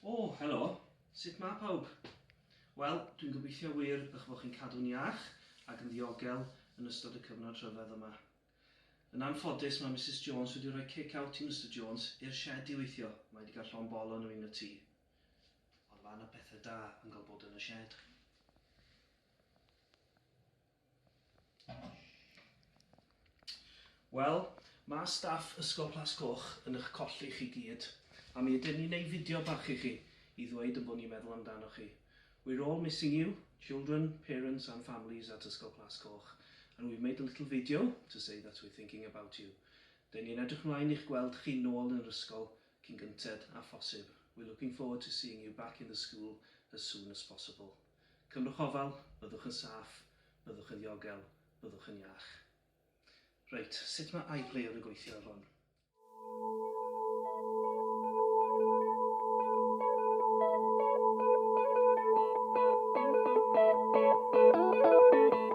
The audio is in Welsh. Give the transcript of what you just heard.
O, helo. Sut mae pawb? Wel, dwi'n gobeithio wir eich bod chi'n cadw'n iach ac yn ddiogel yn ystod y cyfnod rhyfedd yma. Yn anffodus, mae Mrs Jones wedi rhoi kick-out i Mr Jones i'r shed i weithio. Mae wedi cael llon bol o'n yn y tŷ. Ond mae yna pethau da yn cael bod yn y shed. Wel, mae staff Ysgol Plas Coch yn eich colli chi gyd, a mi ydyn ni'n neu fideo bach i chi i ddweud yn bod ni'n meddwl amdanoch chi. We're all missing you, children, parents and families at Ysgol Plas Coch, and we've made a little video to say that we're thinking about you. Dyn ni'n edrych mlaen i'ch gweld chi nôl yn yr ysgol cyn gynted â phosib. We're looking forward to seeing you back in the school as soon as possible. Cymrwch ofal, byddwch yn saff, byddwch yn ddiogel, byddwch yn iach. Reit, sut mae iPlayer yn gweithio ar hwn?